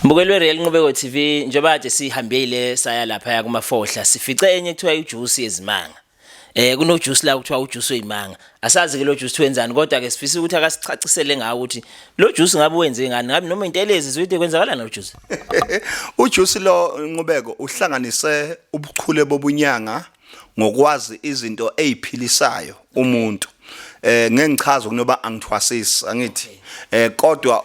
Mbukeli weReal Nqubeko TV njengoba kade sihambile saya lapha ya kumafohla sifice enye kuthiwa ijuice yezimanga. Eh kuno juice la kuthiwa ujuice wezimanga. Asazi ke lo juice wenzani kodwa ke sifisa ukuthi akasichacisele ngawo ukuthi lo juice ngabe wenze ngani ngabe noma intelezi zoyide kwenzakalana lo juice. Ujuice lo Nqubeko uhlanganise ubuchule bobunyanga ngokwazi izinto eziphilisayo umuntu eh ngengichaza kunoba angithwasisi angithi eh kodwa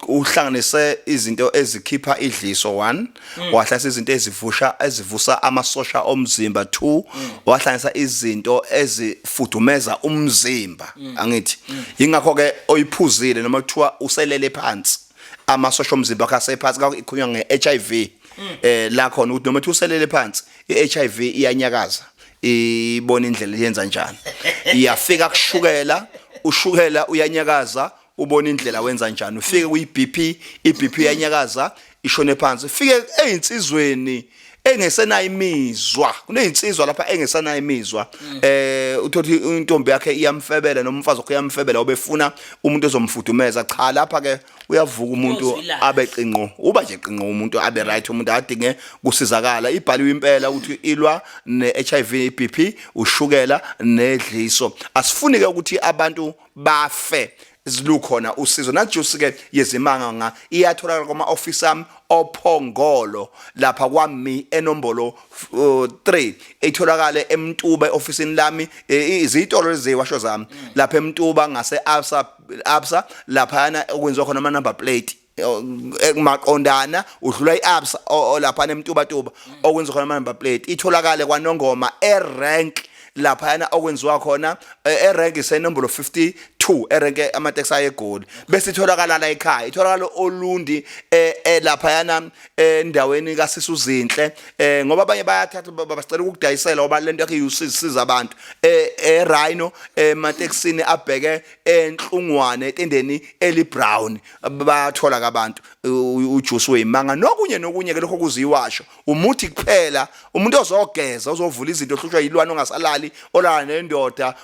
uhlanganise izinto ezikhipha idliso 1 mm. wahlasa izinto ezivusha ezivusa amasosha omzimba 2 mm. wahlanganisa izinto ezifudumeza umzimba mm. angithi ingakho ke oyiphuzile noma kuthiwa uselele phansi amasosha omzimba akhe asephansi ikhunywa ngeHIV eh la khona ukuthi noma uselele phansi iHIV iyanyakaza ibona indlela yenza njani iyafika kushukela ushukela uyanyakaza ubona indlela wenza njani ufike kuyiBP iBP iyanyakaza ishone phansi ufike ezinsizweni engesenayo imizwa kunezinsizwa lapha engesenayo imizwa mm. eh uthothi intombi yakhe iyamfebela nomfazi wakhe iyamfebela obefuna umuntu ozomfudumeza cha lapha ke uyavuka umuntu Uyozwilana. abe qinqo uba nje qinqo umuntu abe right umuntu adinge kusizakala ibhaliwe impela ukuthi ilwa ne-hiv ibp ushukela nedliso asifuni-ke ukuthi abantu bafe zilukhona usizo najusi-ke yezimanga nga iyatholakala kwama-ofisi ami ophongolo lapha kwami enombolo uh, 3 itholakale emtuba e-ofisini lami eh, izitolo leziwasho zami lapha emtuba ngase-absa absa laphana okwenziwa khona ama number plate eh, maqondana udlula iabsa lapha nemtuba tuba okwenza khona ama number plate itholakale kwanongoma erank laphayana okwenziwa khona eh, erank isenombolo 52 erank ama taxi ayegoli bese itholakala la ekhaya itholakala olundi eh, eh, laphayana endaweni kasisi uzinhle eh ngoba abanye bayathatha babasicela ukudayisela oba lento yakhe usisiza abantu eh e Rhino emateksini eh, abheke enhlungwane etendeni eli brown bathola kabantu ujuice weyimanga nokunye nokunye ke lokho kuziwasho umuthi kuphela umuntu ozogeza ozovula izinto ohlushwa yilwane ongasalali olala nendoda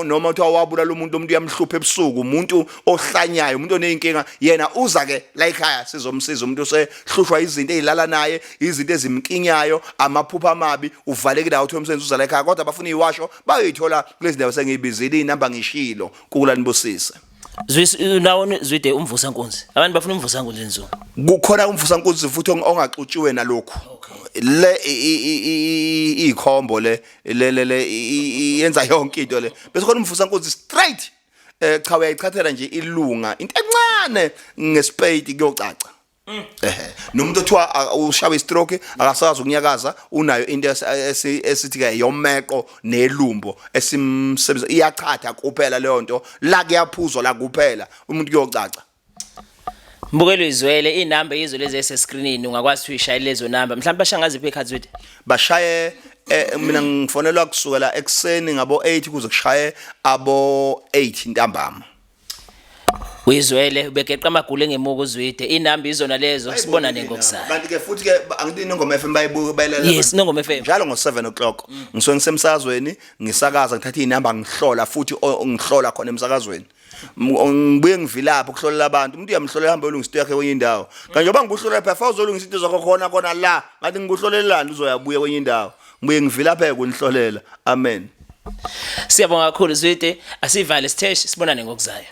noma kuthiwa wabulala umuntu umuntu uyamhlupha ebusuku umuntu ohlanyayo umuntu oneyinkinga yena uza ke la ekhaya sizomsiza umuntu osehlushwa izinto ezilala naye izinto ezimkinyayo amaphupha amabi uvalekile awuthi umsebenzi uza la ekhaya kodwa abafuna iwasho bayoyithola kulezi ndawo sengiyibizile inamba ngishilo kukulani busise Zwinawoni zwide umvusa nkunzi. Abantu bafuna umvusa nkunzi nzulu. Kukhona umvusa nkunzi futhi ongaxutshiwe nalokho. Le ikhombo le le le yenza yonke into le. Bese khona umvusa nkunzi straight. Eh cha uyayichathela nje ilunga into encane ngespade kuyocaca. Mm. ehe nomuntu othiwa a- ushawe istroke akasazi ukunyakaza unayo into esi- esi- esithi ke yomeqo nelumbo esimsebenza iyachatha kuphela leyo nto la kuyaphuzwa la kuphela umuntu kuyocaca Mbukelo izwele inamba yizwe lezi ese screenini ungakwazi ukuthi uyishayele lezo namba. Mhlawumbe bashangaze iphe cards with. bashaye eh, mina ngifonelwa kusukela ekuseni ngabo 8 kuze kushaye abo 8 ntambama Uyizwele ubegeqa amagulu engemuka uzwide inamba izona lezo sibona nengokusana. Kanti ke futhi ke angidini ngoma FM bayibuka bayilalela. Yes nongoma FM. Njalo ngo 7 o'clock mm. ngisuke ngisemsazweni ngisakaza ngithatha inamba ngihlola futhi ngihlola khona emsakazweni. Ngibuye ngivilapha ukuhlolela abantu umuntu uyamhlolela hamba olungisa into yakhe kwenye indawo. Kanti njengoba ngibuhlolela phela fawuzolungisa into zakho khona khona la ngathi ngibuhlolelani uzoyabuya kwenye indawo. ngibuye ngivilapheke unihlolela amen siyabonga kakhulu zwide asivale siteshi sibonane ngokuzayo